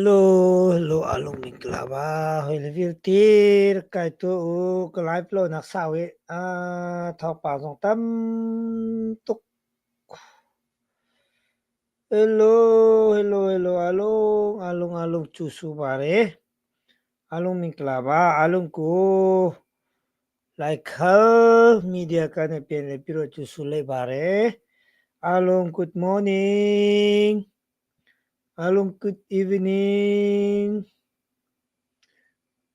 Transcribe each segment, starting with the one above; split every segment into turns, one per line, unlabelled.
Lo a lung ning ka la ba hoi le vialte rak kai tuah u ka live lo nak sau i a thawngpang zong tam tuk. Hello, hello, hello, alung, alung, alung cu su ba re. Alung ning ka la ba, alung ku. Laikhal media kan i pen le piro cu sulei bare. Along good morning. Along good evening.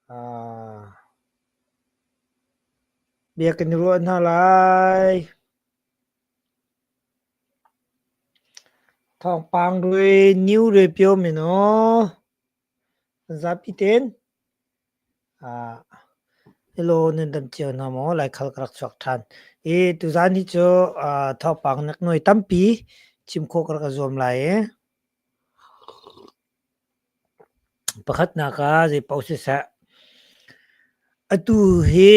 Ah, bia kan i ruah hna lai. Thawngpang rui, new rui pio mino. Zap i ten. na law nan dam cio hna maw? Laikhal ka rak chuak ṭhan. I tuzan hi cu thawngpang nak nuai tampi chim khawh ka rak i zuam lai i pakhatnak ah zei paoh siseh, atu hi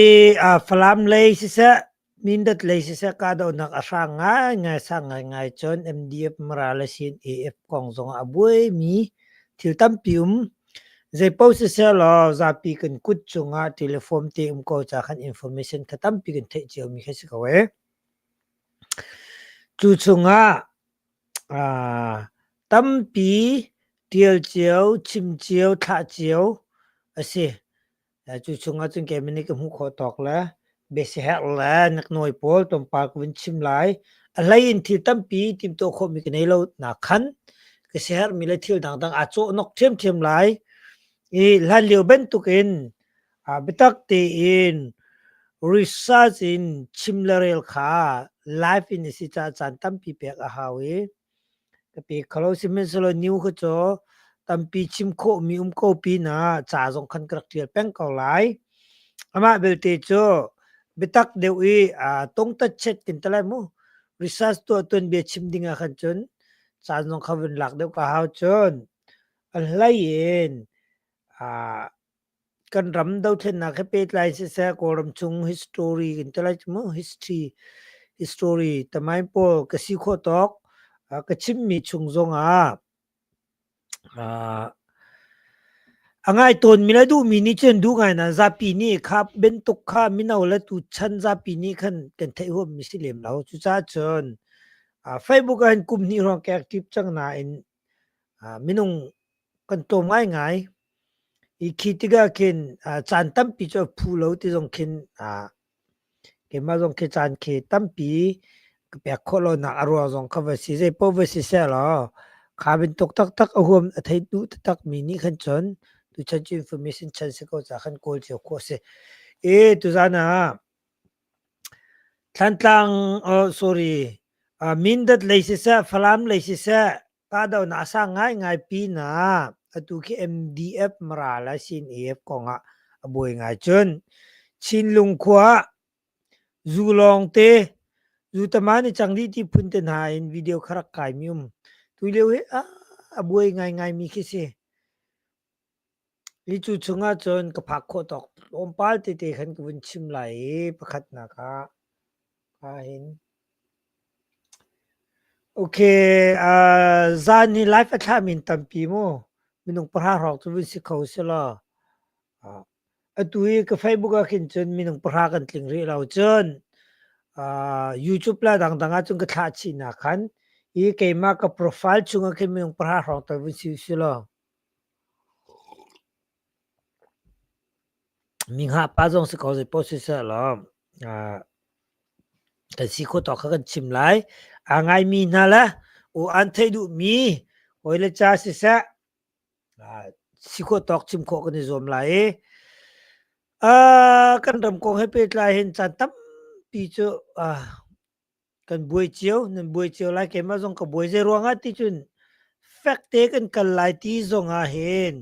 Falam lei siseh, Mindat lei siseh kahdohnak a hrang ngaingai sang ngaingai cun MDF mara le sin AF kong zong ah a buaimi thil tampi um. Zeipaoh siseh law zapi kan kut cungah telephone te um ko ca khan information tha tampi kan theih ciomi khi si ko ee. Cu chungah ah tampi tial cio, chim cio, thlah cio a si. Cu chungah cun kei min ka hmuh khawh tawk le biasiher le naknawi pawl tonpal ka vun chim lai. A hlei in thil tampi timtuah khawhmi ka nei lo nak khan ka sihermi le thil dangdang aa cawh nawk ṭhiamṭhiam lai. I hlan lio bantukin biatak tein research in chim le rel kha live in a si caah caan tampi pek a hau i Ka pe kho lo. Sihmanhsehlaw nu kha cu tampi chim khawhmi um ko pinah ca zong khan ka rak ṭial peng ko lai. Amah belte cu biatak deuh i aa tongtat chet kin te lai mu. Research tuah tuan bia chim ding ah khan cun caan zong kha vun lak deuh ka hau cun. A hlei in aa Kan ram dothlennak he pehtlai siseh Kawlram chung history kan ti lai mu history history tamain pawl ka si khawh tawk uh, ka chimmi chung zong ah uh, a ngai tawn mi la duh mi nih cun duh ngai na zapi nih kha bentuk kha mino le tu chan zapi nih khan kan thei huam mi si lem lo cucaah cun uh, Facebook ah hin kum hnih ruang ka active cang nain minung kan tlawm ngaingai. Hi khi tikah khin caan tampi cu a phu lo ti zong khin keimah zong khi caan khi tampi ka pek khawh lonak a ruang zong kha va si. Zeipaoh va si sehlaw kha bantuk taktak a huam a thei duh taktakmi nih khan cun tuchan cu information chan si ko caah khan kawl cio khawh a si. Tuzan ah Thlantlang sorry Mindat lei siseh Falam lei siseh kahdohnak a sang ngaingai pinah atu khi MDF Mara le CNF kongah a buai ngai cun Chinlung khua zu lawngte zu taman i cang dih ti phun te hna in video kha rak kaimi um. Tulio hi a buai ngaingaimi khi si. Hi cu chungah cun ka phak khawh tawk tlawmpal tete khan ka vun chim lai i pakhat hna kha ka hin. Okay, uh, zan hi live a thlahmi in tampi mu minung pahra hrawk cu vun si kho si law. Uh, atu hi ka Facebook ah khin cun minung pahra kan tling rih lo cun. Uh, YouTube la dangdang ah cun ka thlah chih na khan i keimah ka profile chungah khin minung pahra hrawk tal vun si si law. Mi ngahpa zong si ko zeipoh siseh law kan si khawh tawk kha kan chim lai. Aa ngaimi hna le u an theih duhmi hawi le ca siseh si khawh tawk chim khawh kan i zuam lai i kan ram kong he pehtlai hin caan tampi cu kan buai cio nan buai cio lai keimah zong ka buai zei ruangah ti cun fek te kan kal lai ti zong ah hin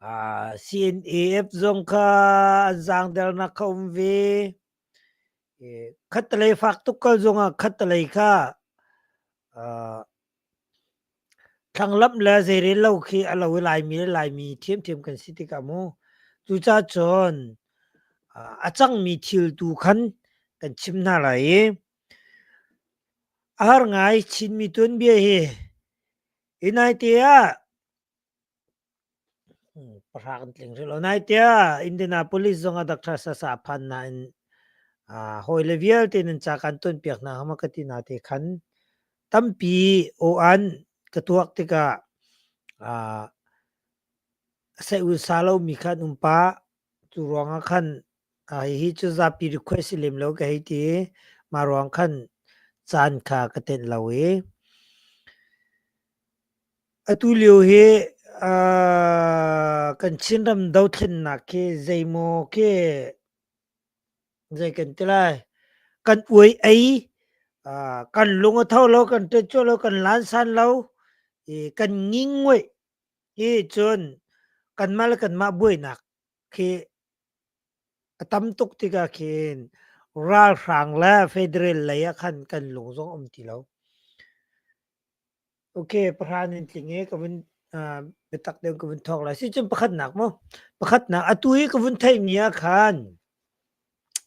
uh, CNAF zong kha an zangdernak kha um ve khatalei fak tuk kal zong ah khatalei kha uh, Thlanglamh le zeirel lo khi a lo i Laimi le Laimi ṭhiamṭhiam kan si tikah mu. Cucacun a cangmi thil tu khan kan chim hna lai i a har ngai Chinmi tuanbia hi. Hi naite ah Pahrang an tling hrim lo. Nai tiah Indianapolis zong ah Dr. Sasa phan nain ah hawile vialte nan ca kan tuanpiak hna hama ka ti na te khan tampi aw-an ka tuak tikah ah Seun-sa lomi kha an um pah. Cu ruangah khan ah hihi cu zapi request si lem lo ka hei ti i mah ruang khan caan kha ka tenh lo i Atulio hi kan Chinram dothlennak hi zeimaw khi zei kan ti lai kan uai ei kan lung a tho lo kan ṭet cuah lo kan lansan lo i kan ngingoih hi cun kanmah le kanmah buainak khi a tam tuk tikah khin ralhrang le federal lei ah khan kan lung zong a um ti lo. Okay, pahra in tling i ka vun ah biatak deuh ka vun thawk lai. Sicun pakhatnak maw? Pakhatnak atu i ka vun theihmi ah khan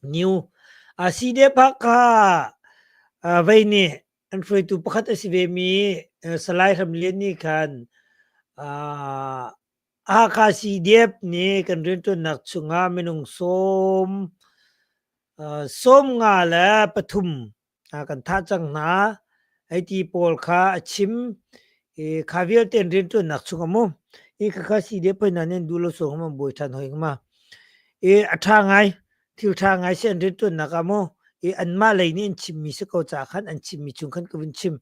New Aside Phakha ah vei nih an hruaitu pakhat a si vemi eh, Salai Hram Lian nih khan ah, Hakha CDF nih kan rianṭuannak chungah minung sawm ah, sawm nga le pathum kan thah cang hna ai ti pawl kha a chim i kha vialte rian ṭuannak chung a mu i kha kha si de poi nan in duh lo so ngam bawi ṭhan hoi ngama i a ṭha ngai thil ṭha ngai si an rian ṭuannak a mu i anmah lei nih an chimmi si ko ca khan an chimmi chung khan ka vun chim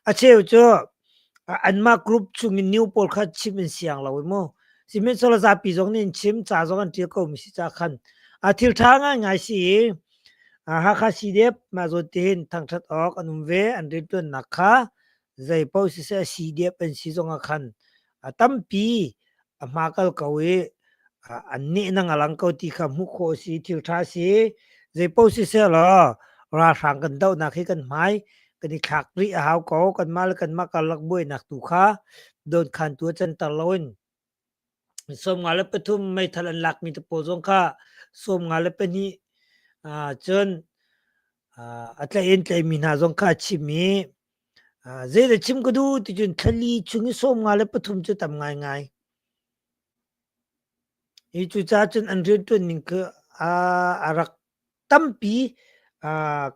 a cheu cu anmah group chung in new pawl kha chim in siang lo mu sihmanh solo zapi zong nih an chim ca zong an ṭial ko mi si ca khan a thil ṭha ngai ngai si i Hakha CDF mah zawn tihin thangṭhat awk an um ve. An rianṭuannak kha zeipaoh siseh a CDF an si zongah khan a tampi a hma kal ko i an nehnang a lang ko ti kha hmuh khawh a si, thil ṭha a si. Zeipaoh siseh law ralhrang kan dohnak hi kan hmai kan i thlak rih a hau ko. Kanmah le kanmah karlak buainak tu kha dawnkhantu a canter loin sawmnga le pathum meithal an lakmi te pawl zong kha sawmnga le pahnih cun a tlaih in tlaihmi hna zong kha a chim i zeidah chim ka duh ti cun thlali chung i sawmnga le pathum cu tam ngaingai hi cucaah cun an rianṭuan ning cu a rak tampi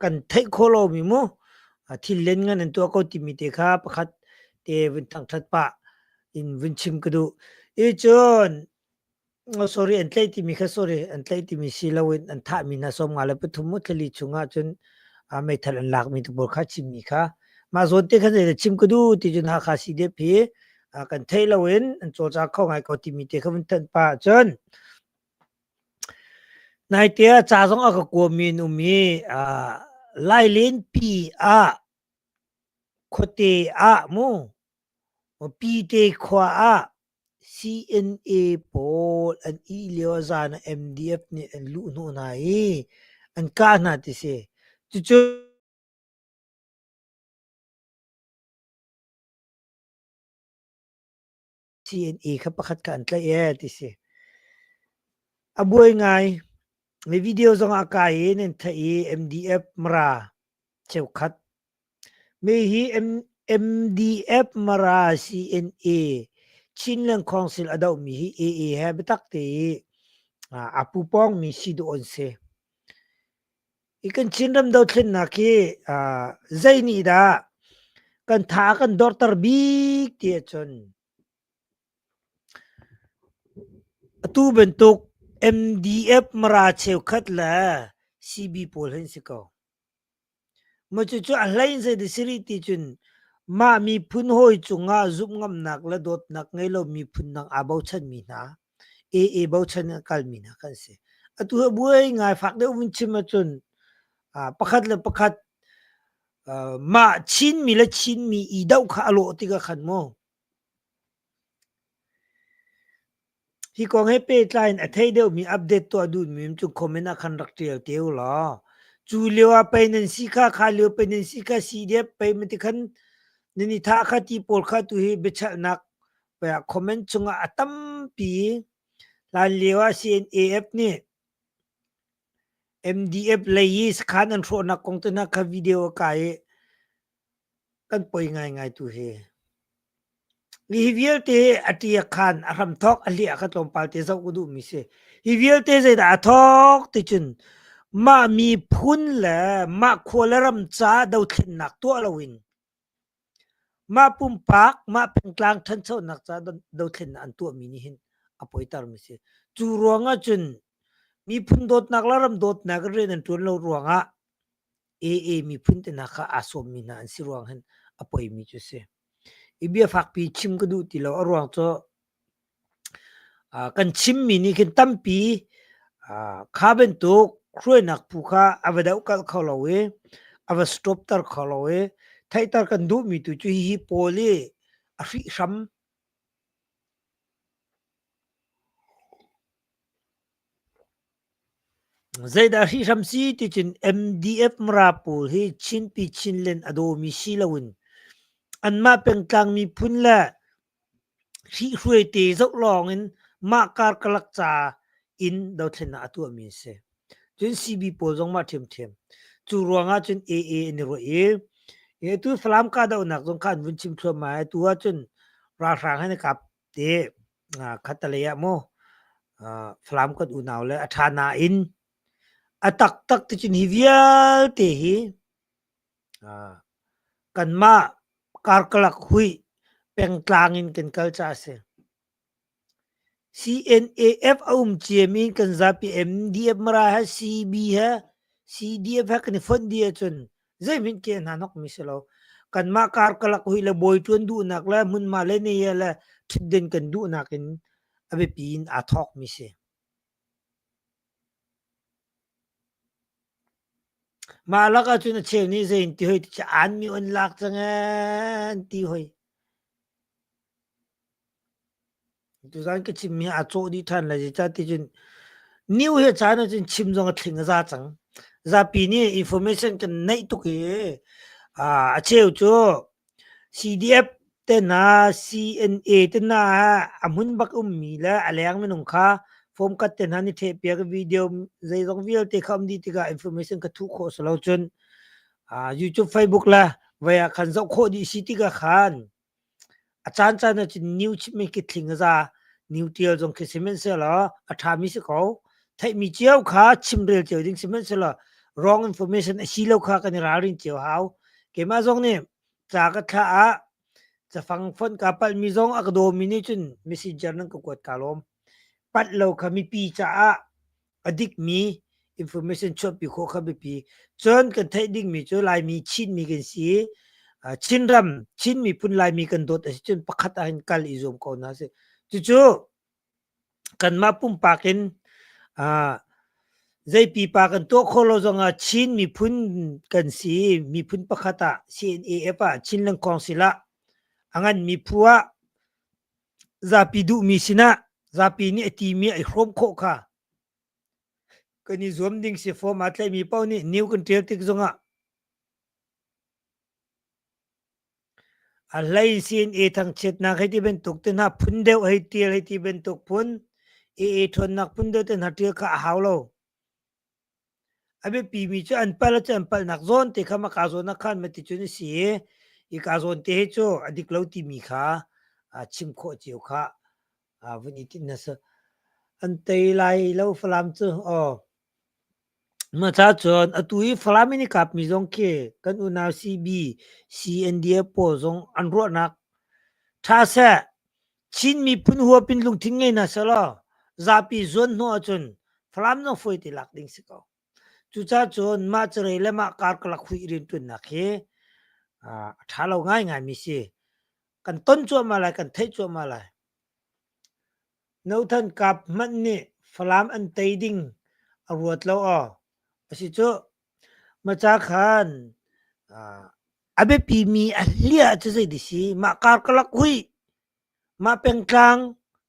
kan theih khawh lomi maw thillen ngan an tuah ko timi te kha pakhat te vun thangthat pah in vun chim ka duh. I cun, oh sorry an tlaih timi kha sorry an tlaih timi si loin an thahmi hna sawmnga le pathum maw tlali chungah cun meithal an lakmi tubur kha chimmi kha mah zawn te khan zeidah chim ka duh ti cun Hakha CDF hi kan theih loin an cawlcak kho ngai ko timi te kha vun thanh pah cun Naite ah ca zong a ka kuami an um i aa lailenpi ah khuate ah mu Pite khua ah CNA pawl an ih lio ah zan ah MDF nih an luh hnawh hna i an kah hna ti si. Cucu T&E kha pakhat ka an tlaih ee ti si. A buai ngai. Mi video zongah kai i nan thai i MDF mara cheukhat. Mi hi MDF mara CNA Chinland Council a dohmi hi AA he biatak te i a pupawngmi si duh an si. I kan Chinram dothlennak hi ah zei nih dah kan tha a kan dorter bik ti ahcun atu bantuk MDF mara cheukhat le CB pawl hin si ko. Maw cucu a hlei zei dah si rih ti cun mah miphun hawi cungah zumh ngamnak le dawtnak ngei lo miphun dang aa bochanmi hna AA bochan in a kalmi hna kan si. Atu a buai ngai fak deuh vun chim ahcun uh, pakhat le pakhat uh, mah Chinmi le Chinmi idoh kha a lawh tikah khan maw hi kong he pehtlai in a thei deuhmi update tuah duhmi cu comment ah khan rak tial te u law cu lio ah pei nan si kha kha lio pei nan si kha si dep pei mati khan nan i thah kha ti pawl kha tu hi biachalnak comment cungah a tampi hlan lio ah CNAF nih MDF lei i sakhan an hrawhnak kong tuna kha video a kai i kan poi ngaingai tu hi hi vialte a tia khan a hram thok a hliah kha tlawmpal te zoh ku duh mi si hi vialte zeidah a thok ti cun mah mi phun le mah khua le ram ca dothlennak tuah lo in Mah pumpak mah pengtlang ṭhanchonak ca dothlennak an tuahmi nih hin a poitermi a si. Cu ruangah cun miphun dawtnak le ram dawtnak in rian an ṭuan lo ruangah AA miphun te hna kha aa sawmmi hna an si ruang hin a poimi cu a si. I bia fakpi chim ka duh ti lo. A ruang cu Kan chimmi nih khin tampi kha bantuk hruainak phu kha a va dohkalh kho lo i a va stopter kho lo i theihter kan duhmi tu cu hihi pawl i a hrih hram. Zeidah a hrih hram si ticun MDF Mara pawl hi Chinpi Chinland a dawmi si loin anmah pengtlang miphun le Hrihhruai te zoh lawngin mah kar ka lak ca in dothlennak a tuahmi a si. Cun CB pawl zong mah ṭhiamṭhiam. Cu ruangah cun AA an i ruah i atu Falam kahdohnak zong kha an vun chim thluahmah i atu ahcun ralhrang he na kap te khattelei ah maw Falam kan unau le a ṭha nain a taktak ticun hi vialte hi Kanmah karkalak huih pengtlang in kan kal caah a si. CNAF a um ciam i kan zapi MDF Mara he CB he CDF he kan i fonh dih ahcun zeihmanh ke hna hnok mi si lo. Kanmah karkalak huih le bawi ṭuan duhnak le hmunhma le neia le ṭhitden kan duhnak in a biapi in aa thawk mi si. Mah lakah cun a cheu nih zeiti hoi tiah aanmi an lak cang ee an ti hoi. Tuzaan ka chimmi aa cawh dih ṭhan lai, zeicah ticun new hi a caan ahcun chim zong a thling a za cang. Zapi nih information kan neih tuk i a cheu cu CDF tehna CNA tehna ah a hmun bak ummi le a leng minung kha fawmkhat tehna an i ṭhehpiak i video zeizong vialte kha um dih tikah information kha thuh khawh si lo cun aa YouTube, Facebook le voi ah khan zoh khawh dih si tikah khan a caancaan ah cun new chim hi ki tling a za new ṭial zong khi sihmanhsehlaw a ṭhami si ko. theihmi cio kha chimrel cio ding sihmanhsehlaw wrong information a si lo kha kan i ralrin cio hau keimah zong nih ca ka thlah ah cafang fon ka palhmi zong a ka dawmi nih cun messenger nan ka kuat ka lawm pat lo kha mipi caah a dikmi information chuahpi khawh kha biapi cun kan theih dingmi cu laimi chinmi kan si chinram chin miphun laimi kan dawt a si cun pakhat ah hin kal i zuam ko hna sih cucu Kanmah pumpak in aa zei pipa kan tuah khawh lo zongah Chin miphun kan si i miphun pakhat ah CNAF ah Chin Lengkawng silah a nganmi phu ah zapi duhmi sinah zapi nih a timi a i hrawm khawh kha kan i zuam ding si. Form aa tlaihmi paoh nih new kan ṭial tik zongah A hlei sin i thangchiatnak hei ti bantuk te hna phun deuh hei tial hei ti bantuk phun i i ṭhawnnak phun deuh te hna ṭial kha a hau lo. A biapimi cu an pal cu an palnak zawn te kha ma kaa zawnah khan ma ti cun a si i hi kaa zawn te hi cu a dik lo timi kha a chim khawh cio khah. a vun i tin nasa an tei lai lo falam cu aw ma cha chon atu i falam in i kap mi zong khi kan unau CB CNDF pawl zong an ruahnak tha se Chin miphun huapin lungthin ngei na selaw zapi zuan hnu ahcun falam no foi ti lak ding si ko Cucacun mah carei le mah kar ka lak huih rianṭuannak hi a ṭha lo ngaingaimi si. Kan ton cuahmah lai, kan theih cuahmah lai. Nothan kap hmanh nih Falam an tei ding a ruat lo aw. Asicuh maca khan a biapimi a hliah cu zei ti si? Mah kar ka lak huih, mah pengtlang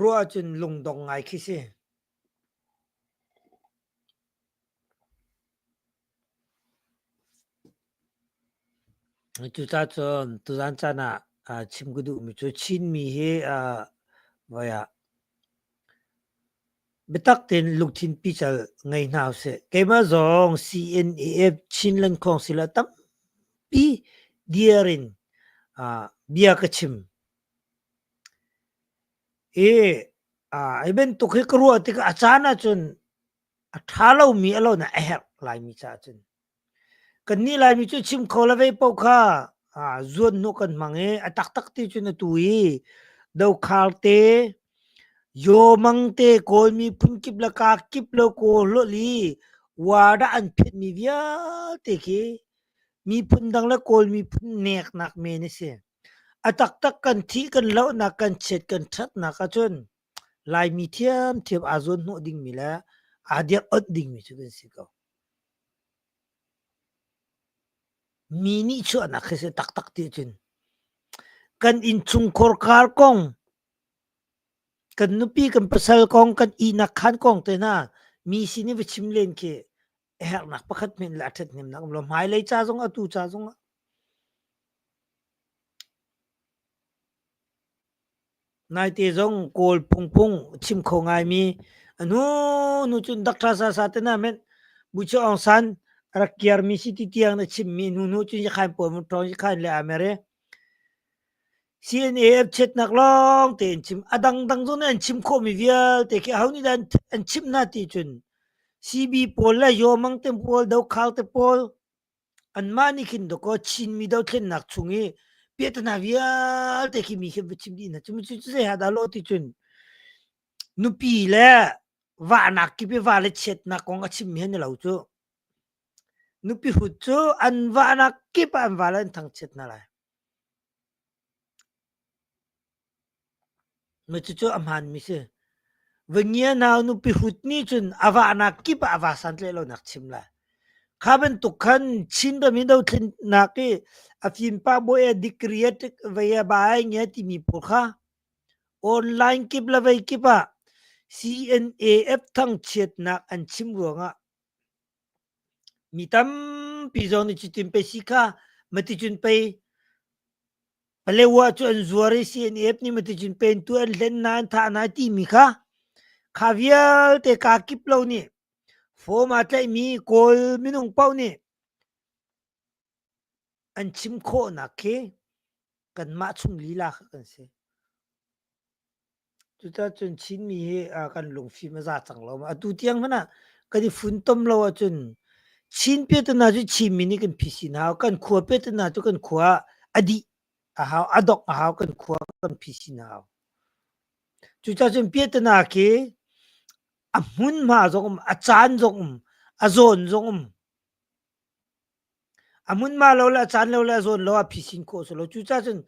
Ruah ahcun lungdong ngai khi si. Cucacun tuzan caan ah chim ka duhmi cu Chinmi hi voi ah biatak tein lungthin pical ngei hna usih. Keimah zong CNAF Chin Lengkhawng sila tampi dir in bia ka chim. I hi bantuk hi ka ruah tikah a caan ahcun a ṭha lomi a lonak a herh Laimi caah cun. Kannih Laimi cu chim kho le vei paoh kha zuanhnawh kan hmang i a taktak ti cun atu i dokhar te, yawmang te, kawlmi phunkip le kakip le kaw hlawhli wadah an phetmi vialte khi miphun dang le kawlmi phun neknak men a si. A taktak kan thih kan lohnak kan chiat kan ṭhatnak ahcun Laimi ṭhiamṭhiam aa zuan hnawh dingmi le aa dirh-awnh dingmi cu kan si ko. Mi nihchuahnak hi a si taktak tiahcun kan innchungkhar kar kong, kan nupi kan pasal kong, kan ihnak khaan kong tehna mi sin i va chim len khi a herhnak pakhat men le a ṭhathnemnak um lo hmailei ca zong atu ca zong ah naite zong kawl pungpung chim kho ngaimi anu nu cun dak ṭha sa sa te na men bu chu ong san rak kiar mi si ti tiang na chim mi nu nu cun yakhain po mun ṭong yakhain le amere CNAF chiatnak lawng tein chim a dangdang zong nih an chim khawhmi vialte khi aho nih dah an chimh hna ti cun CB pawl le Yomang te pawl Dokhau te pawl anmah nih khin dawkaw Chinmi dothlennak chung i piahtana vialte khi mi khi va chim dih hna cu cu zei ha dah law ti cun nupi le vahnak kip i va le chiatnak kong a chimmi hi ni lo cu nupi hut cu an vahnak kip ah an va le an thangchiat hna lai Cucu a hmaanmi si. Va ngianau nupi hrut nih cun a vahnak kip ah a va santleh lonak chim lai. Kha bantuk khan Chin ram hi dothlennak i a fimpa bawi a degree a ṭek vei a ba ai nge timi pawl kha online kip le vei kip ah CNAF thangchiatnak an chim ruangah Mi tampi zong nih cutin pei si kha maticun pei Paleo-ah cu an zuar i CNF nih maticun pei an tuah, an hlen hna, an thah hna timi kha kha vialte kaa kip lo nih form aa tlaihmi Kawl minung paoh nih an chim khawhnak khi kanmah chung lila kha kan si. Cuticun Chinmi hi kan lungfim a za cang lo. Atu tiang hmanh ah kan i funtom lo ahcun Chin pia tu hna cu Chinmi nih kan phi sin a hau. Kan khua pia tu hna cu kan khua ah a dih a hau, a dongh a hau, kan khua kan phi sin a hau. Cuticun pia tu hna khi a hmunhma zong um, a caan zong um, a zawn zong um A hmunhma lo le a caan lo le a zawn lo ah phisin khawh si lo. Cucaah cun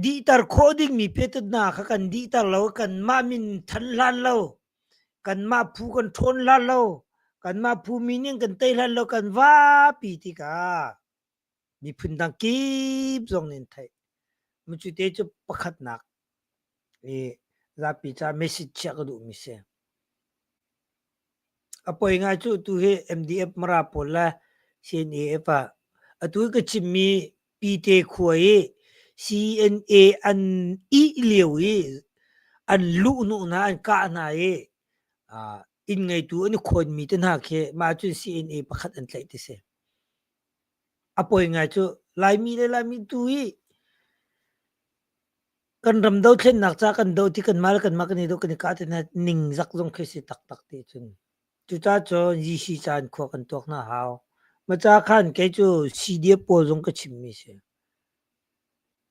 dihter khawh dingmi phetut hna kha kan dihter lo. Kanmah min thanh hlan lo, kanmah phu kan ṭhawn hlan lo, kanmah phu min in kan tei hlan lo kan vapi tikah miphun dang kip zong nih an theih. Mucute cu pakhatnak i zapi ca message chiah ka duhmi si. A poi ngai cu tu hi MDF mara pawl le CNAF ah atu ka chimmi Pite khua i CNA an ih lio i an luh hnu hna an kah hna i inn ngeitu an i khawnmi te hna khi mah cun CNA pakhat an tlaih ti si. A poi ngai cu Laimi le Laimi tu hi kan ram dothlennak ca kan do ti kanmah le kanmah kan i do kan i kah ti hna ningzak zong khi a si taktak ti cun. Cuca cu GC ca in khua kan tuak hna hau. Maca khan kei cu CDF pawl zong ka chimmi si.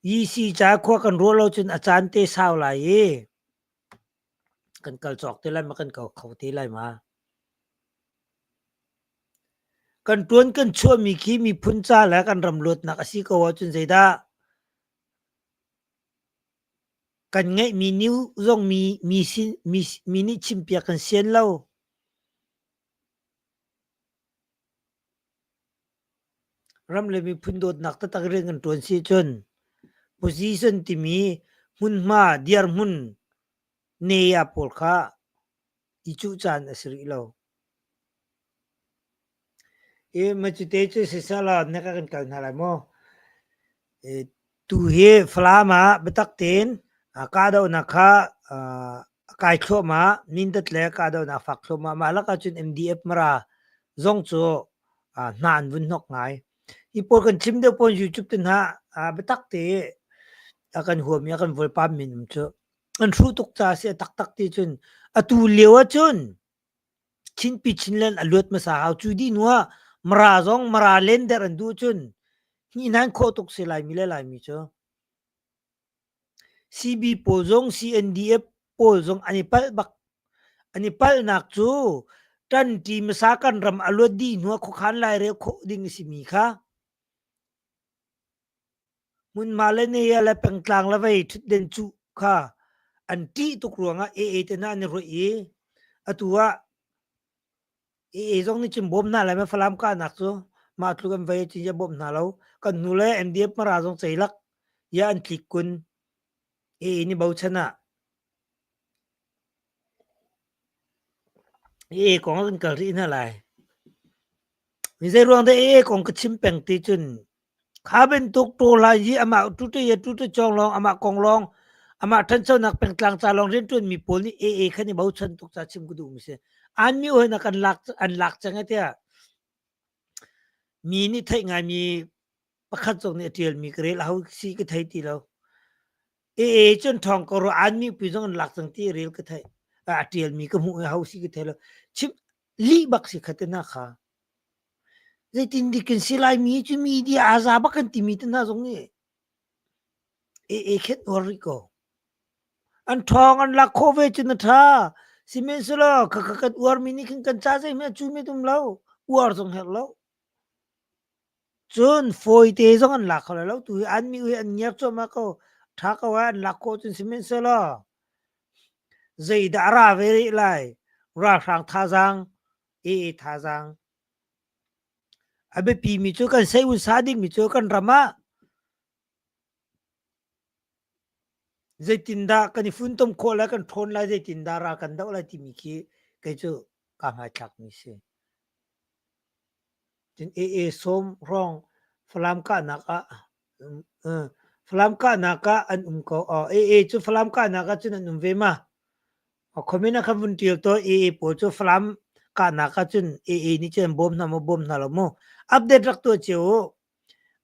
GC ca khua kan ruah lo cun a caan te sau lai i Kan kal cawk te lai ma kan kal kho te lai ma? Kan ṭuan kan chuahmi khi miphun ca le kan ram luatnak a si ko ahcun zeidah kan ngeihmi new zong mi mi sin mi mi nih chimpiak kan sian lo. Ram le miphun dawtnak taktak rian kan ṭuan si ahcun position timi hmunhma dirhmun ne ah pawl kha i cuh caan a si rih lo. I macute cu sisala na ka kan kal hna lai maw? I tu hi Falam ah biatak tein kahdohnak kha a kai thluahmah. Nindat le kahdohnak fak thluahmah. Mah lakah cun MDF mara zong cu uh, hna an vun hnok ngai. Hi pawl kan chim deuh pawn YouTube tu hna uh, biatak te a kan huam i a kan volpam minum cu. An hru tuk ca si a taktak ti cun atu lio ah cun chinpi chinlen a luat masa hau cu di nua mara zong mara len der an du cun hi nan khawh tuk si lai mi le lai mi cu Sibi pawl zong CNDF pawl zong an i palh bak. An i palhnak cu ṭanṭi hmasa kan ram a luat dih hnu ah khuakhan lairel khawh ding a simi kha hmunhma le nehia le pengtlang le vei ṭhutden cuh kha an ṭih tuk ruangah AA te hna an i ruaih i atu ah i i zong nih cun bawm hna lai ma Falam kahnak cu mah tluk an vai ci ya bawm hna lo kan nu le NDF mara zong ceilak ya an tlik kun i ni bochan ah i kong kan kal rih hna lai mi zei ruang de e kong ka chim peng ti cun Kha bantuk ṭawlai hi amah tute le tute cawng lawng, amah kong lawng, amah ṭhanchonak pengtlang ca lawng rianṭuanmi pawl nih AA kan i bochan tuk ca chim ka duhmi a si. Anmi hawi nak an lak, an lak cang e tiah mi nih theih ngaimi pakhat zong nih a ṭialmi ka rel a hau si ka thei ti lo. E e cun thawng ka ruah anmi pi zong an lak cang ti rel ka theih a ṭialmi ka hmuh hau si ka thei lo chim lih bak si khate hna kha zeitin dikin si lai mi cu media aza bak kan timi te hna zong nih e e khet or ri ko an thawng an lak kho ve cun a tha sihmanhsehlaw ka ka kan uar mi nih khin kan ca zei hme cu me tum lo uar zong her lo Cun fawite zong an lak kho lo lo. Tuhi an mihui an ngiar cuahmah ko. Ṭha ko ah an lak khawh cun sihmanhsehlaw zeidah a ra ve rih lai? Ralhrang thazaang, aa thazaang. A biapimi cu kan seihun sa dingmi cu kan ram ah Zeitindah kan i funtom khawh lai, kan ṭhawn lai, zeitindah ral kan doh lai timi khi kei cu kaa hmaithlakmi si. Cun AA sawm hrawng Falam kahnak ah Falam kahnak ah an um ko. AA cu Falam kahnak ah cun an um ve ma? Khomin ah khan vun ṭial taw AA pawl cu Falam kahnak ah cun AA nih cun an bawm hna maw bawm hna lo maw? Update rak tuah cio u.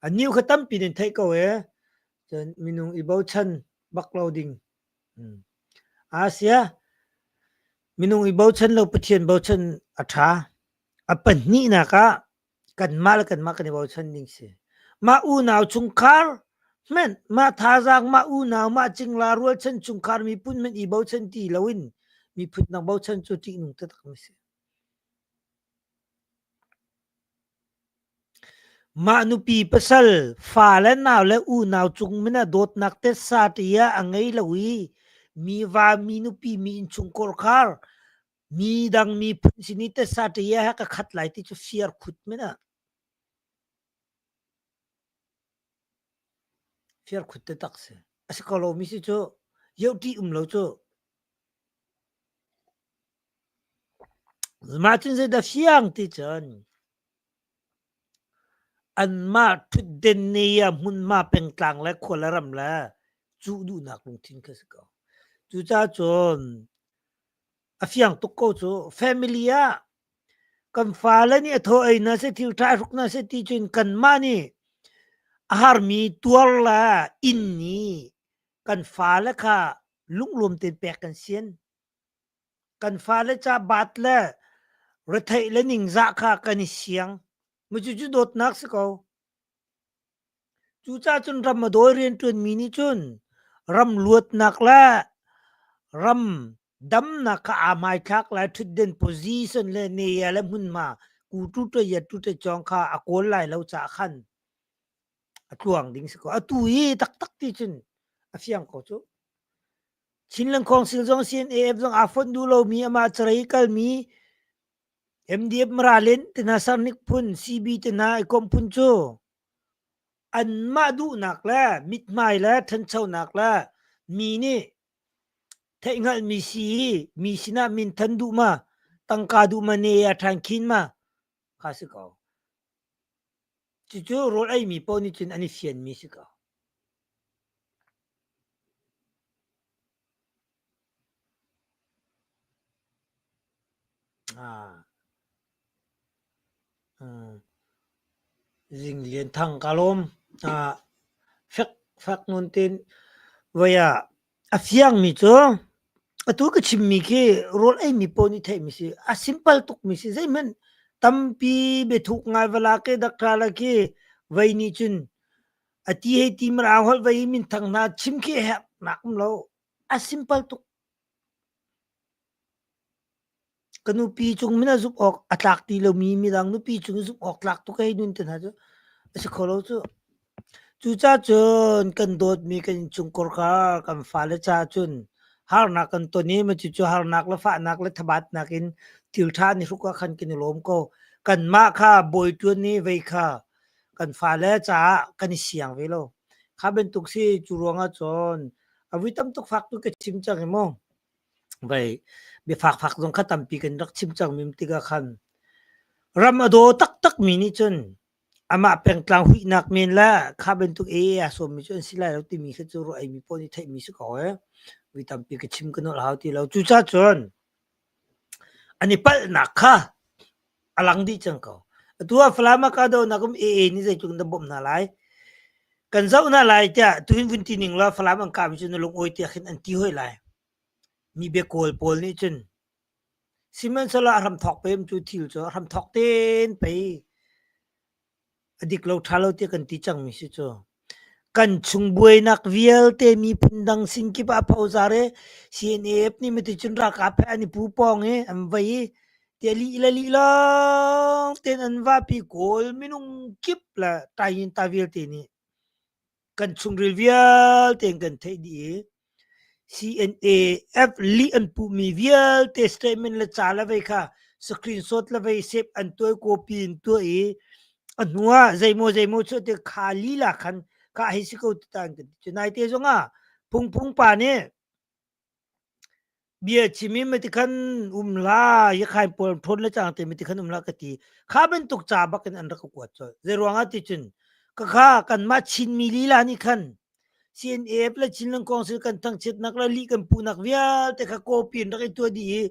A niu kha tampi nan theih ko ee. Cun minung i bochan bak lo ding. Asia, minung i bochan lo Pathian bochan a ṭha. A pahnihnak ah kanmah le kanmah kan i bochan ding si. Mah unau chungkhar hmenh mah thazaang mah unau mah cingla rualchan chungkhar miphun hmenh i bochan ti loin miphun dang bochan cu ṭihnung taktak mi si. Mah nupi pasal fale nau le unau cung min ah dawtnak tetsa ṭiah a ngei lo i mi va, mi nupi, mi innchungkhar khar, mi dang miphun sin i tetsa ṭiah he ka khat lai ti cu firkhut min ah firkhut tetak si. A si ko lomi si cu ioṭih um lo cu. Mah cun zeidah fiang ti cun Anmah ṭhutden ne ah hmunhma pengtlang le khuala ram le cuh duhnak lungthin kha a si ko. Cucacun a fiang tuk ko cu. Family ah kan fale nih a thaw ei na seh ti, ṭhahruk na seh ti cun kanmah nih a harmi tuar le inn i kan fale kha lunglawm tein pek kan sian. kan fale ca baat le retheih le ningzah kha kan i siang mucu cu dawtnak si ko cu ca cun ram a dawi rian ṭuan mi nih cun ram luatnak le ram damnak kha aa hmaithlak lai ṭhutden position le neya le hmunhma ku tu ṭa yat tu ṭa chong kha a kawl lai lo ca khan a tluang ding si ko atu i taktak ti cun a fiang ko cu Chin Lengkhawng Sing zong CNAF zong aa fonh duh lomi amah carei kalmi MDF Maralen te hna Sarnik phun CB te hna ikomh phun cu anmah duhnak le mithmai le ṭhanchonak le mi nih theihhngalhmi si i mi sinah minthan duh ma tangka duh ma ne a ṭhan khin ma kha a si ko. Cucu rawl eimi paoh nih cun an i fianmi a si ko. Zing Lian Thang ka lawm. fek fek ngun tin voi ah A fiangmi cu atu ka chimmi khi rawl eimi paoh nih theihmi a si. A simple tukmi si. Zeihmanh tampi biathuk ngai va la ke dak ṭha la khi vei nih cun a ti hei ti mar aa holh vei i minthang hna chim khi a herhnak um lo. A simple tuk. Ka nupi cung mina zumh awk a tlak ti lomi midang nupi cung i zumh awk tlak tu kei nun te hna cu a si kho lo cu. Cucacun kan dawtmi kan innchungkor kha kan fale caah cun harnak kan ton i cucu harnak le fahnak le thabatnak in thil ṭha nih hruk ah khan kan i lawm ko. Kanmah kha bawi ṭuan i vei kha kan fale caah kan i siang ve lo. Kha bantuk si cu ruangah cun a vui tamtuk fak tu ka chim cang hi mu. Vei biafakfak zong kha tampi kan rak chim cangmi tikah khan ram a daw taktakmi nih cun amah pengtlang huihnak men le kha bantuk ee aa sawmmi cu an si lai lo timi khi cu ruahmi pawl nih theihmi si ko ee. Mi tampi ka chim ka nolh hau ti lo. Cucacun an i palhnak kha a lang dih cang ko. Atu ah Falam ah kahdohnak um AA nih zeitluk in na bawmh hna lai, kan zoh hna lai tiah tuin vun ti ning law Falam an kahmi cu na lungawi tiah khin an ti hoi lai. Mi bia kawl pawl nih cun sihmanhsehlaw a hram thawk pem cu thil cu a hram thawk ten pei A dik lo ṭha lo tiah kan ti cangmi si cu. Kan chung buainak vialte miphun dang sin kip ah phozar i CNF nih miti cun ralkap he an i pu pawng i an vei i tia lih le lih lawng tein an vahpi kawl minung kip le tai in ta vialte nih kan chungril vialte in kan theih dih i CNAF lih an puhmi vialte statement le ca le vei kha screenshot le vei sep an tuai copy in tuai i a hnuah zeimaw zeimaw cu te kha lila khan kah hei si ko ti ta an kan ti. Cu naite zong ah phungphung pa nih Bia chim i miti khan um la, Yakhain pual ṭhawn le cang te miti khan um la ka ti. Kha bantuk ca bak in an rak ka kuat colh. Zeiruangah ti cun, ka kha kanmah Chinmi lila nih khan CNAF le Chinland Council kan thangchiatnak le lih kan puhnak vialte kha copy in rak i tuah dih i,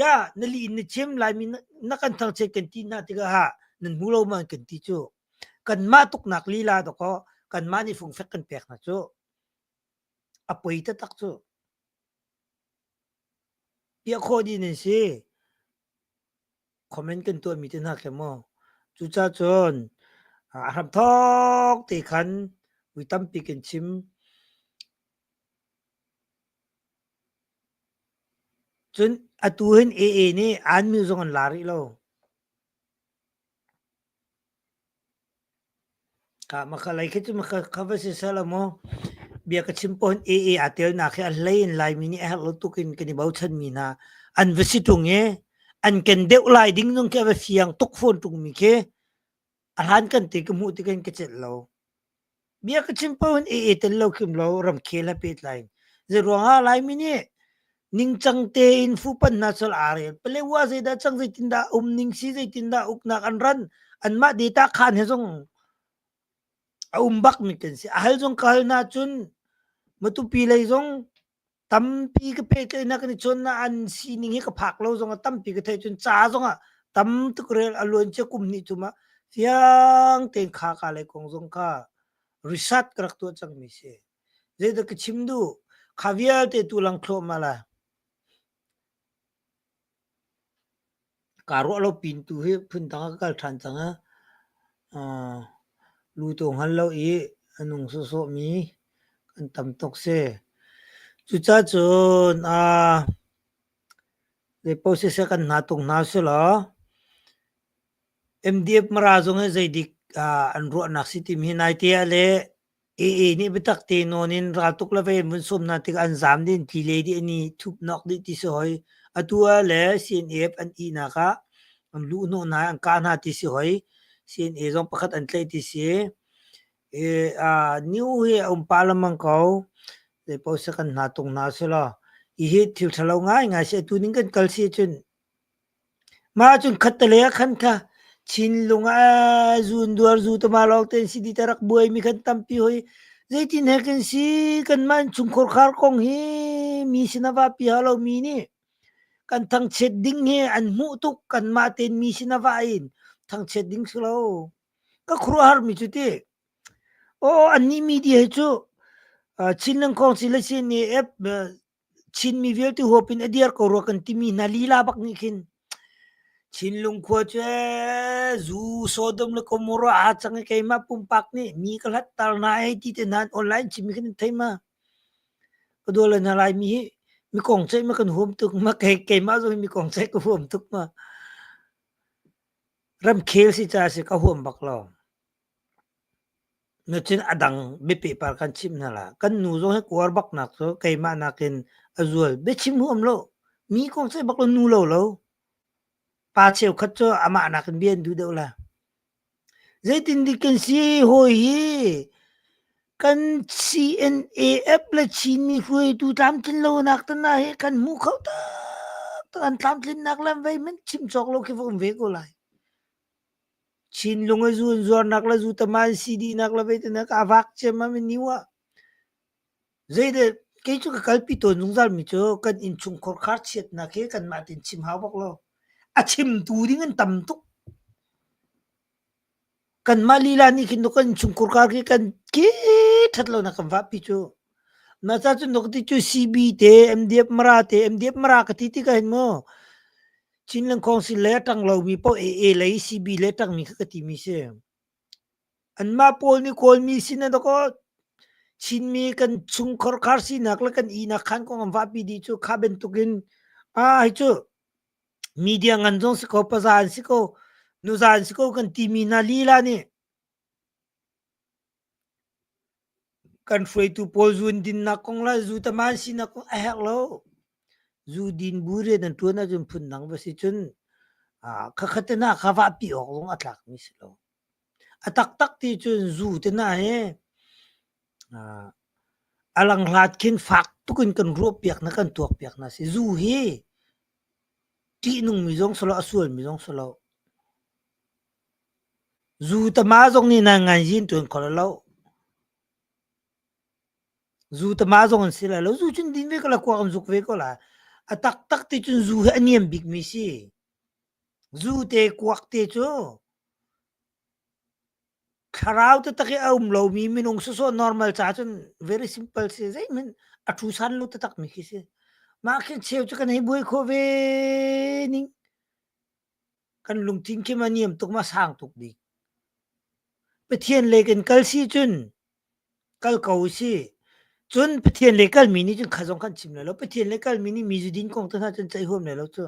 ya, na lih in na chim, Laimi na, na kan thangchiat kan ti hna tikah ha, nan hmu lo man kan ti cu. Kanmah tuknak lila dakaw, kanmah nih fungfek kan pek hna cu. A poi taktak cu. Piah khawh dih nan si. Comment kan tuahmi te hna khi maw. Cucah cun a hramthok te khan vui tampi kan chim. Cun atu hin AA nih an mil zong an la rih lo. Ka makhalei khi cu ka va si sal a maw bia ka chim pawhin AA aa ṭialnak hi a hlei in Laimi nih a herh lo tuk in kan i bochanmi hna an va si ṭung i an ken deuh lai ding zong khi a va fiang tuk fawn ṭungmi khi a hlan kan ti ka hmuh tikah hin ka celh lo. Bia ka chim paoh in i e tel lo kim lo ramkhel he pehtlai in. Zeiruangah Laimi nih ningcang tein fuhpanh hna sal aa rel. Paletwa zeidah cang, zeitindah a um ning si, zeitindah uknak an ran, anmah data khaan he zong a um bak mi kan si. A hal zong ka hal nahcun Matupi lei zong Tampi ka pet len ah kan i cuannak an sining hi ka phak lo zong ah tampi ka theih cun ca zong ah tam tuk rel a luan cia kum hnih tum ah fiang tein kha ka lei kong zong kha research ka rak tuah cangmi si. Zeidah ka chim duh? Kha vialte tu lang thluahmah lai. Kaa ruah lo pintu hi phundang ah ka kal ṭhan cang ah luto hngal lo i a nung sawhsawh mi kan tam tuk si. Cucacun zeipaoh siseh kan hna tung hna usihlaw MDF Mara zong hi zeidik an ruahnak si timi hi nai te ah le AA nih biatak te nawn in raltuk le vei munsum hna tikah an zam din ti le dih ni thup nok dih ti si hoi. Atu ah le CNF an ihnak ah an lu hnawh hna an kah hna ti si hoi. CNA zong pakhat an tlaih ti si. E, uh, new hi a um pa lamang ko. Zei paoh se kan hna tung hna si lo. I hi thil thalo ngai ngai si atu ning kan kal si cun Mah ahcun khattale ah khan kha Chinlung ah zunduar zu tama lawng te an si ti ti a rak buaimi khan tampi hoi. Zeitin he kan si kanmah in chungkhar khar kong hi mi sin a vahpi hau lomi nih kan thangchiat ding hi an hmuh tuk. Kanmah tein mi sin a vah in thangchiat ding si lo. Ka khuaruahharmi cu ti, aw annih media hi cu Chinland Council le sin i ep Chinmi vialte huap in a dir ko rua kan timi hna lila bak nih khin Chinlung khua cu ee zu Sodom le Gomorrah aa cang i keimah pumpak nih mi ka hlatter hna hei ti te hna online chimmi khin an thei ma. Ka dual le hna Laimi hi mi kong ceih ma kan huam tuk ma kei keimah zong hi mi kong ceih ka huam tuk ma. Ramkhel si ca a si ka huam bak lo. Nacun a dang biapehpar kan chimh hna la. Kan nu zong hi kuar baknak cu keimah nakin a zual. Biachim huam lo. Mi kong seh bak lo nu lo lo. Pa cheukhat cu amah nakin bia an duh deuh la. Zeitindik kan si hawi hi kan CNAF le Chinmi hruaitu tlamtlinlonak te hna hi kan hmu kho taktak. An tlamtlinnak le an vei hmanh chim cawk lo khi va um ve ko lai. Chinlung a zunzuarnak le zutam ah an si dihnak le veitein a ka vak ciammam i niu ah zeidah kei cu ka kalpi tawn zungzalmi cu kan innchungkhar kharchiatnak hi kanmah tein chim hau bak lo. A chimtu ding an tam tuk. Kanmah lila nih khin nu kan innchungkhar kar khi kan kee ṭhat lonak kan vahpi cu. Na ca cu nuk ti cu CB te, MDF Mara te, MDF Mara ka ti ti ka hin mu. Chinland Council le a ṭang lomi paoh AA lei CB le ṭangmi kha ka timi si. Anmah pawl nih kawlmi sin a dakaw Chinmi kan chungkhor khar sinak le kan ihnak khan kong an vahpi dih cu kha bantukin a hi cu media ngan zong si ko paza an si ko nuza an si ko kan timi hna lila nih Kan hruaitu pawl zundinnak kong le zutama sinak kong a herh lo. Zudin bu rian an ṭuan ahcun phundang va si cun khakhat te hna kha vahpi awk zong a tlakmi si lo. A taktak ti cun zu te hna hi a lang hlat khin fak tuk in kan ruahpiak hna, kan tuakpiak hna si. Zu hi ṭihnungmi zong si lo, a sualmi zong si lo. Zu tama zong nih nan nganzin tuan kho lo lo. Zu tama zong an si lai lo. Zu cun din ve ko la, khua kan zuk ve ko la. A taktak ti cun zu hi a niam bikmi si. Zu te, kuak te cu thlarau taktak i a um lomi minung sawsawh normal ca cun very simple si. Zeihmanh a thusan lo taktakmi khi si. Mah khi cheu cu kan hei buai khawh ve ning. Kan lungthin khi a niam tuk ma sang tuk bik. Pathian le kan kal si cun kal ko si. Cun Pathian le kalmi nih cun kha zong kan chim lai lo. Pathian le kalmi nih mi zudin kong tu hna cun ceih huam lai lo cu.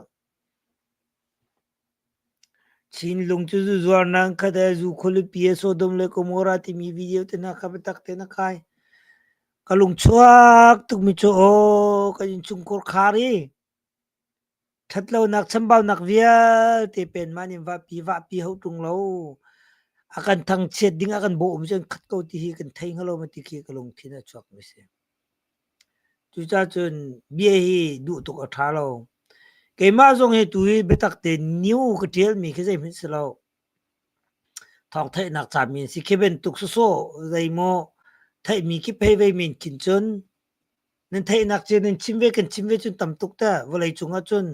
Chinlung cu zu zuarnang khata zu kholupi Sodom le Gomorrah timi video te hna kha biatak te na khai. Ka lungchuak tukmi cu aw ka in chungkor khar i Ṭhatlonak chambaunak vialte pen mah nih vahpi vahpi hauh ṭung lo. A kan thangchiat ding a kan bawm cun khat ko ti hi kan thei hnga ti khi ka lungthin a chuakmi a si. Cucacun bia hi duh tuk a ṭha lo. Keimah zong hi tuhi biatak tein new ka ṭialmi khi zeihmanh si lo. Thawngtheihnak cami an si khi bantuk sawsawh zeimaw theihmi khi phei vei men khin cun. nan theihnak cia nan chim ve kan chim ve cun tam tuk teh vawlei cungah cun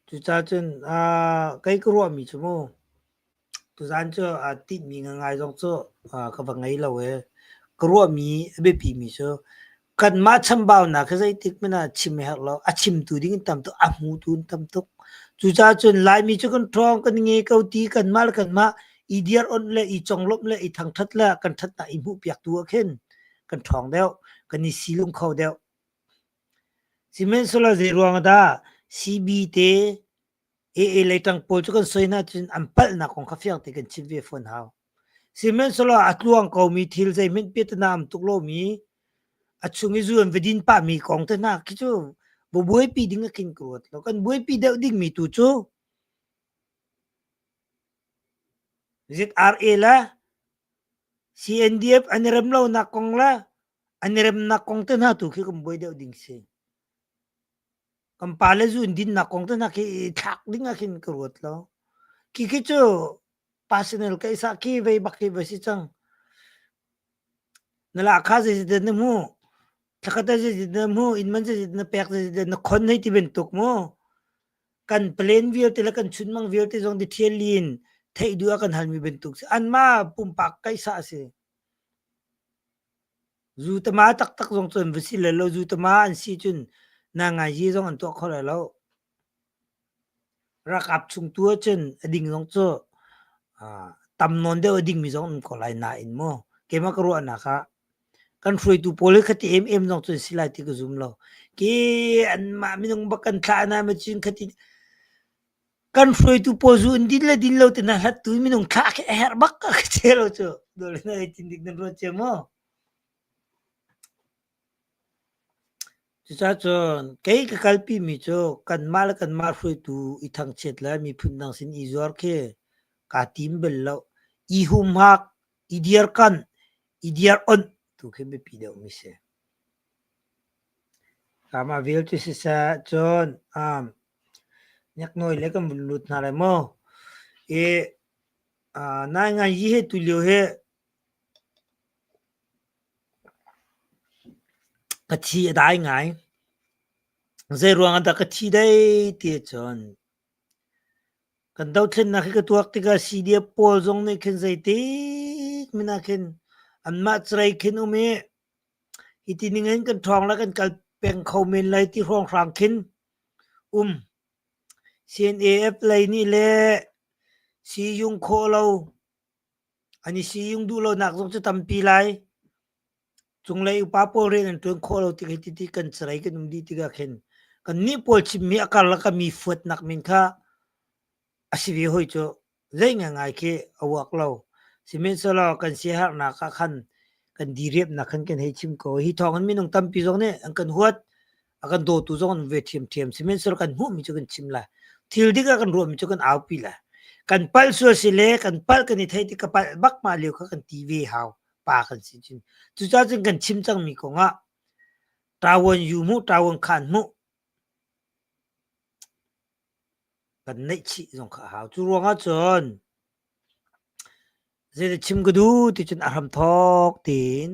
cucaah cun aa kei ka ruahmi cu mu tuzaan cu aa tinhmi ngangai zong cu aa ka va ngei lo ee ka ruahmi a biapimi cu kanmah chambaunak hi zeitik hmanh ah chim a herh lo. A chimtu ding in tam tuk, a hmutu in tam tuk. Cucaah cun Laimi cu kan ṭhawng, kan nge ko ti kanmah le kanmah i dir onh le i conglawmh le i thangṭhat le kan ṭhatnak i hmuhpiaktu ah khin kan ṭhawng deuh, kan i silung kho deuh. Sihmanhsehlaw zeiruang ah dah CB te AA leitang pawl cu kan soi hna cun an palhnak kong kha fiang te kan chim ve fawn hau. Sihmanhsehlaw a tluang komi thil zeihmanh piatana am tuk lomi a chung i zuan va din pahmi kong te hna khi cu va buaipi ding a kin ka ruat lo. Kan buaipi deuh dingmi tu cu ZRA la CNDF an i rem lonak kong la an i remnak kong te hna tu khi kan buai deuh ding si. Kan pa le zu in dinnak kong te hna khi thlak ding ah khin ka ruat lo. Ki khi cu personal ka isa ki vei bak hi va si cang. Na lahka zeizat na hmu, thlakata zeizat na hmu, inman zeizat na pek zeizat na khon hei ti bantuk mu. Kan plan vialte le kan chunmang vialte zong ti thial in theih duh a kan halmi bantuk si. Anmah pumpak ka isa a si. Zutama taktak zong cun va si le law zutama an si cun nangaizi zong an tuah kho lai lo. Rakap chung tu ahcun a ding zong cu tam nawn deuh a dingmi zong an um ko lai nain maw keimah ka ruahnak ah kan hruaitu pawl hi khati em em zong cun si lai ti ka zum lo. Ke anmah minung bak kan thlah hna maw cun khati Kan hruaitu pawl zu in din le din lo tinak hlattu in minung thlah khi a herh bak a ka cheu lo cu. Dawh le nai tindik nan ruat cia maw? Cucacun kei ka kalpi mi cu kanmah le kanmah hruaitu i thangchiat le miphun dang sin i zuar khi kaa tim bel lo. I humhak, i dirkanh, i dir'onh tu khi biapi deuh mi si. Kaamah vialte siseh cun um hneknawi le kan vun lut hna lai maw? I uh, naingai hi hi tulio hi ka thi a dai ngai. Zei ruang ah dah ka thi dai ti cun kan dothlennak hi ka tuak tikah CD pawl zong nih khin zeitik min ah khin anmah carai khin um i Hi ti ning in kan ṭhawng le kan kal peng kho men lai ti hrawnghrang khin um. CNAF lei nih le si yung khawh lo, an i si yung duh lonak zong cu tampi lai. Cunglei upa pawl rian an ṭuan khawh lo tik hi ti kan carei kan um dih tikah khin kannih pawl chimmi a karlak a mi fuatnak men kha a si ve hoi cu. Lei ngai khi a uak lo. Sihmanhsehlaw kan siaherhnak ah khan kan diriamhnak khan kan hei chim ko. Hi thawng in minung tampi zong nih an kan huat, a kan dawtu zong an ve ṭhiamṭhiam. Sihmanhsehlaw kan hmuhmi cu kan chim lai. Thil dik a kan ruahmi cu kan aupi lai. Kan palh sual si le kan palh kan i theih tik ka palh bak mah lio kha kan ti ve hau, pa kan si cun. Cucaah cun kan chim cangmi kong ah ṭavuan yu mu, ṭavuan khaan mu. Kan neihchih zong kha a hau. Cu ruang ahcun zeidah chim ka duh ticun a hramthawk tiin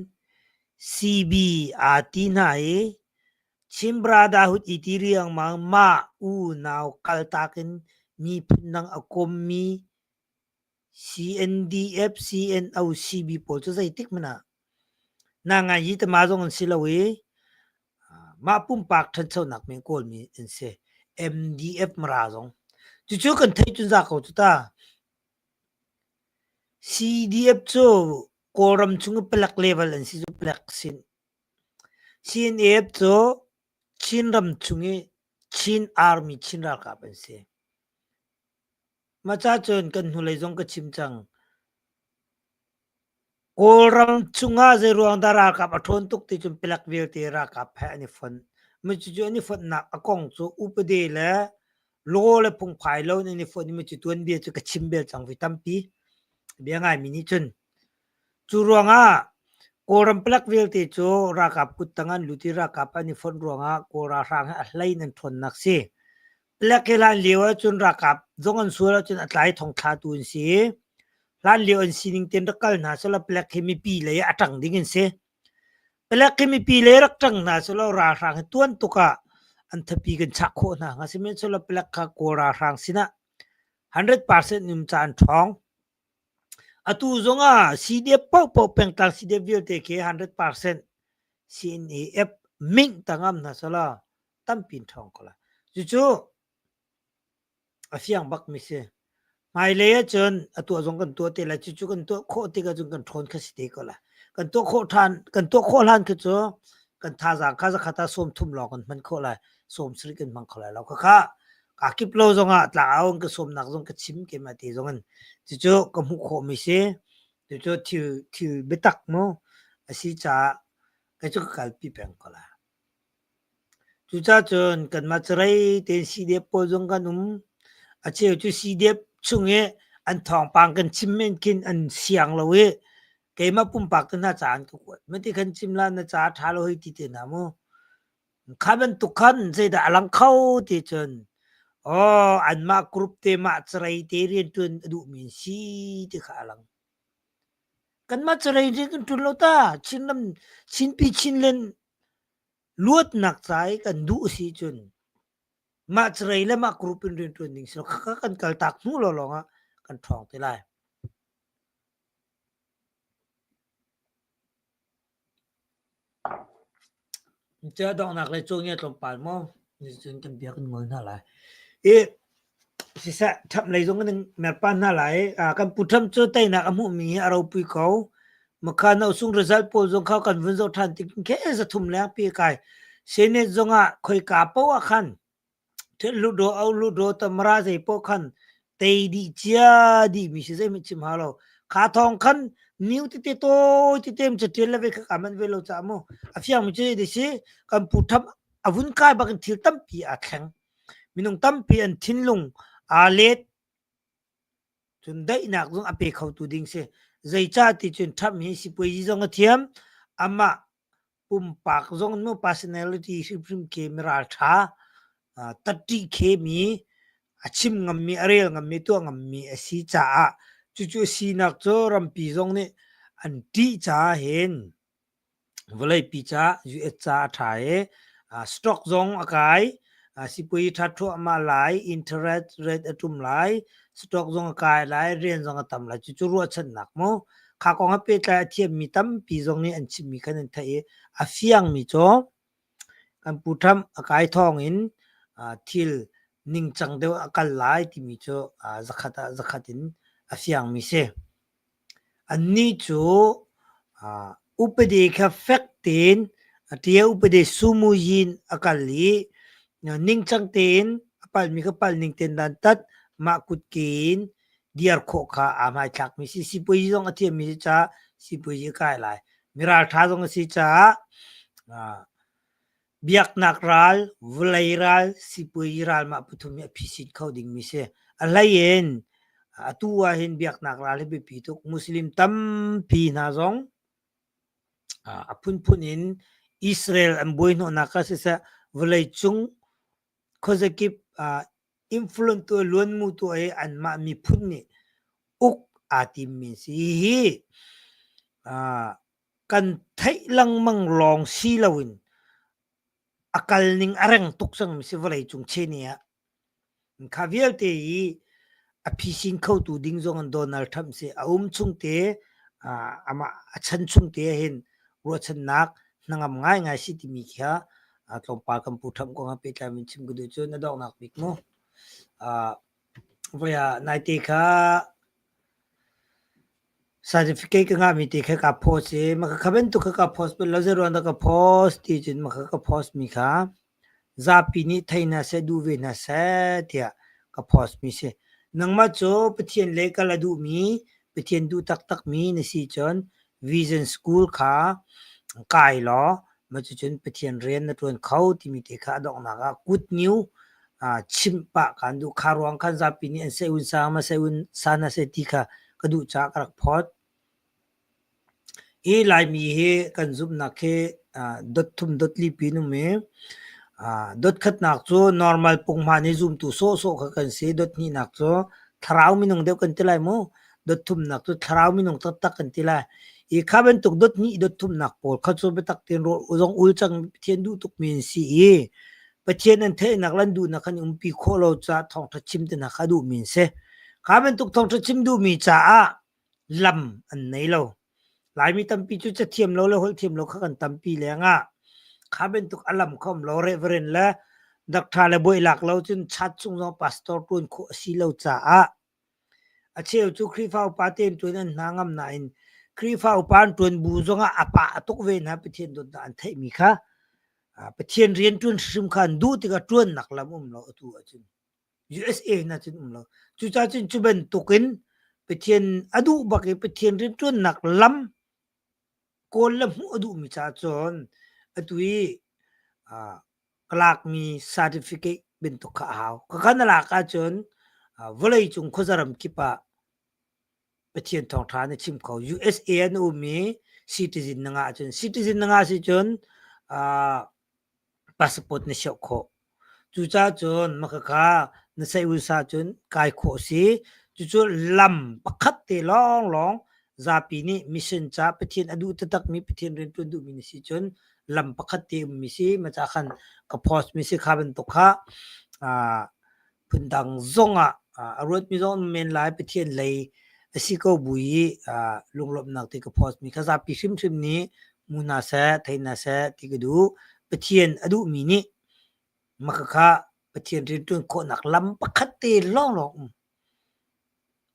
CB aa ti hna i Chin Brotherhood i ti riangmang mah unau kaltak in miphun dang a kommi CNDF, CNOCB pawl cu zeitik hmanh ah na ngai hi tama zong an si lo i mah pumpak ṭhanchonak men kawlmi an si. MDF Mara zong. Cucu kan theih cun za ko cu ta. CDF cu Kawlram chung i palek level an si cu palek sin. CNAF cu Chin ram chung i Chin Army Chin ralkap an si. Maca cun kan hnulei zong ka chim cang. Kawlram chungah zeiruang dah ralkap a ṭhawn tuk ti cun palek vialte ralkap he an i fonh. Micucu an i fonhnak a kong cu upade le law le phungphai lo in an i fonh i micu tuanbia cu ka chim bel cang vi tampi. Bia ngaimi nih cun. Cu ruangah Kawlram palek vialte cu ralkap kuttang an lut i ralkap an i fonh ruangah Kawl ralhrang he a hlei in an ṭhawnnak si. Le kelan lio ahcun ralkap zong an sual ahcun a tlai thongthla tu an si. Hlan lio an sining ten rak kal hna selaw palek hi mipi lei a ṭang ding an si. Palek hi mipi lei rak ṭang hna selaw ralhrang hi tuan tuk ah an thapi kan chak khawh hna hnga sihmanh selaw palek kha kawl ralhrang sinah 100% um caan ṭhawng. Atu zong ah CDF pohpoh pengtang CDF vialte khi 100% CNAF ming tangam hna selaw tampi in ṭhawng ko la. Cucu a fiang bakmi si. Hmailei ahcun a tuah zong kan tuah te la, cucu kan tuah khawh tik ahcun kan ṭhawn kha si te ko la. Kan tuah khawh ṭhan, kan tuah khawh hlan khi cu kan thazaang kha zakhat ah sawm thum lawng kan hman khawh lai. Sawm sarih kan hmang kho lai lo. Khakha kaa kip lo zongah tlangau in ka sawmnak zong ka chim ke ma te zong in cucu ka hmuh khawhmi si. Cucu thil, thil biatak maw a si caah kai cu ka kalpi peng ko la. Cucacun kanmah carei tein siidep pawl zong kan um. Acheu cu siidep chung i an thawngpang kan chim men khin an siang lo i keimah pumpak tu hna caah an ka kuat. Mah ti khan chim la na ca a ṭha lo hoi ti te hna mu. Kha bantuk khan zeidah a lang kho ti cun aw anmah group te mah carei te rianṭuan a duhmi an si ti kha a lang. Kanmah carei rian kan ṭuan lo ta. Chinram Chinpi Chinland Luatnak ca i kan duh a si cun mah carei le mah group in rianṭuan ding si lo. Khakha kan kaltak hnu lawlawng ah kan ṭhawng te lai. Cia donghnak le cawngia tlawmpal maw? Nicun kan biak in ngol hna lai. I Siseh ṭhap lei zong kan in mer pah hna lai i kan pu Trump cu teinak a hmuhmi hi a ropui ko. Makha nosung result pawl zong kha kan vun zoh ṭhan tik kheh zathum leng pi a kai. Senate zong ah khoika paoh ah khan ṭhit lutdaw, auh lutdaw, tamara zei paoh khan tei dih cia dihmi si zeihmanh chim hau lo. Kha thawng khan niu tete tawi tete in caṭial le ve kha kaa manh ve lo caah mu. A fiangmi cu hiti a si, kan pu Trump a vun kai bak in thil tampi aa thleng. Minung tampi an thinlung aa let. Cun daihnak zong a pe khotu ding si. Zeicah ti cun Trump hi sipuazi zong a thiam. Amah pumpak zong nu personality hrimhrim khi mi ralṭha, uh, ttih khemi, a chim ngammi, a rel ngammi, tuah ngammi a si caah cucu a sinak cu rampi zong nih an ttih caah hin vawleipi ca US ca a ṭha i stock zong a kai sipuazi ṭha thluahmah lai interest rate a ṭum lai stock zong a kai lai rian zong a tam lai cucu ruahchannak mu kha kong ah pehtlai a thiammi tampi zong nih an chimmi khan an theih i a fiangmi cu kan pu Trump a kai thawng in thil ningcang deuh a kal lai timi cu zakhat ah zakhat in a fiangmi si. Annih cu upadi kha fek tein a ṭia upadi sumuyin a kal i ningcang tein a palhmi kha palh ning tein dantat mah kutke in dir khawh kha aa hmaithlakmi a si. Sipuazi zong a thiammi a si caah sipuazi a kai lai. Mi ralṭha zong a si caah Biaknak ral, vulei ral, sipui ral mah pathum hi a phisit kho dingmi si. A hlei in atu ahhin biaknak ral hi biapi tuk. Muslim tampi hna zong a phunphun in Israel an buaihnawhnak kha siseh, vawleicung khuazakip influence tuah, luanmu tuah i anmah miphun nih uk aa timmi si. Hihi Kan theih lengmang lawng si loin a kal ning a reng tuk cangmi si vawleicung cheni ah. Kha vialte hi a phisin khotu ding zong in Donald Trump si a um chungte amah a chan chungte hin ruahchannak hnangam ngaingai si timi kha tlawmpal kan Pu Trump kong ah pehtlai in chim ka duh cu na donghnak bik mu. Voi ah naite kha certificate ka ngahmi te kha ka post i maka kha bantuk kha ka post bal lo zeiro dah ka post ti cun maka ka post mi kha zapi nih thei hna seh duh ve hna seh tiah ka post mi si. Nangmah cu Pathian le ka la duhmi Pathian duh taktakmi na si cun Vision School kha kai law cucun Pathian rian na ṭuan kho timi te kha a donghnak ah Good New chimh pah ka an duh. Kha ruang khan zapi nih an seun sang ma seun san a si ti kha ka duh caah ka rak phawt. Hi Laimi hi kan zumhnak hi dot thum dot lipi in um i dot khatnak cu normal pung hmaan i zumtu sawhsawh kha kan si. Dot hnihnak cu thlarau minung deuh kan ti lai mu. dotthumnak cu thlarau minung taktak kan ti lai i kha bantuk dot hnih dot thumnak pawl kha cu biatak tin zong ul cang pathian duh tukmi an si i pathian an theihnak lan duhnak kan umpi khawh lo caah thawngtha chim te hna kha duhmi an si kha bantuk thawngtha chim duhmi caah lam an nei lo laimi tampi cu cathiam lo le holh thiam lo kha kan tampi lengah kha bantuk alam khom lo reverend le doctor le boih lak lo cun chat chung zong pastor tuan khawh a si lo caah A cheu cu Khrihfa upa temtuin an hna ngam nain Khrihfa upa an ṭuan bu zongah a pa a tuk ve hna. Pathian dawtnak an theihmi kha Pathian rian ṭuan hrimhrim kha an duh tikah ṭuannak lam um lo atu ahcun USA in ahcun um lo. Cucacun cu bantukin Pathian a duh bak i Pathian rianṭuannak lam Kawl le hmuh a duhmi ca cun atu i ah ka lakmi certificate bantuk kha a hau. Ka kan na lak ahcun ah vawleicung khuazaram kip ah Pathian thawngṭha na chim kho. USA an ummi citizen na ngah ahcun citizen na ngah si cun ah Passport na siauh khawh. Cucacun makhakha na saih usa cun kai khawh si. Cucu lam pakhat te lawnglawng zapi nih mission ca Pathian a duh taktakmi Pathian rianṭuan duhmi na si cun lam pakhat te ummi si. Macah khan ka post mi si kha bantuk kha aa Phundang zongah a ruatmi zong men lai Pathian lei a si ko bu i lunglawmhnak ti ka post mi kha zapi hrimhrim nih mu hna seh thei hna seh ti ka duh. Pathian a duhmi nih makhakha Pathian rianṭuan khawhnak lam pakhat te lawnglawng um.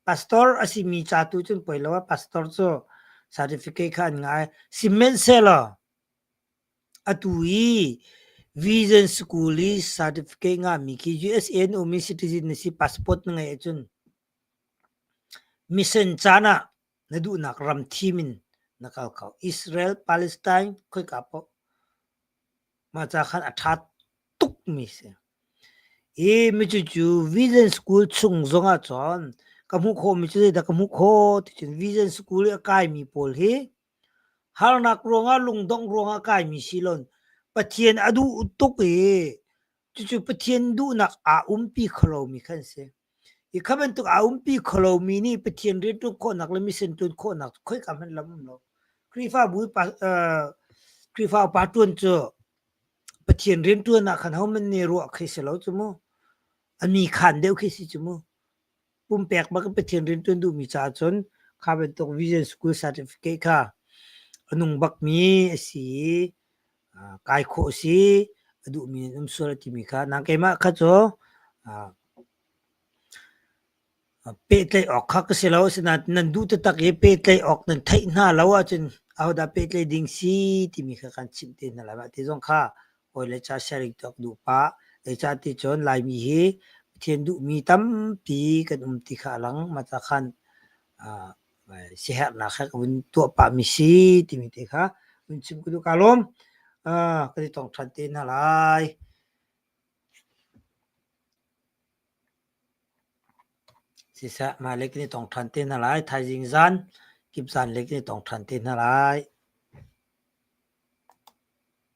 Pastor a simi ca tu cun poi lo ah pastor cu certificate kha an ngai. Sihmanhsehlaw Atu hi Vision School i certificate ngahmi khi USA an ummi citizen na si passport na ngeih ahcun mission caan ah na duhnak ram thim in na kal ko. Israel, Palestine khoika paoh mahca khan a ṭha tukmi si. Hi micucu Vision School chung zongah cun ka hmuh khawhmi cu zeidah ka hmuh khawh ti cun Vision School i a kaimi pawl hi Harnak ruangah lungdongh ruangah kaimi silon Pathian a duh tuk i cucu Pathian duhnak aa umpi kholomi kha an si. Hi kha bantuk aa umpi kholomi nih Pathian rianṭuan khawhnak le mission ṭuan khawhnak khoika hmanh lam um lo. Khrihfabu i pa, uh, Khrihfa upa ṭuan cu Pathian rianṭuan ah khan hohmanh nih ruah khi si lo cu mu. A mi khaan deuh khi si cu mu. pumpek bak Pathian rian tuan duhmi caah cun kha bantuk vision school certificate kha a nung bakmi a si i kai khawh a si a duhmi an um sual a timi kha nang keimah kha cu pehtlaih awk kha ka si lo asinain nan duh taktak i pehtlaih awk nan theih hna lo ahcun ahodah pehtlaih ding si timi kha kan chimh te hna lai mah ti zong kha hawi le ca sharing tuak duh pa. Zeicah ti cun Laimi hi Pathian duhmi tampi kan um ti kha a lang. Mah ca khan ah siaherhnak he ka vun tuah pahmi si timi te kha vun chim ka duh kaa lawm. Ah, kan i tong ṭhan te hna lai. Siseh, mah le kan i tong ṭhan te hna lai. Thaizing zan, kip zan le kan i tong ṭhan te hna lai.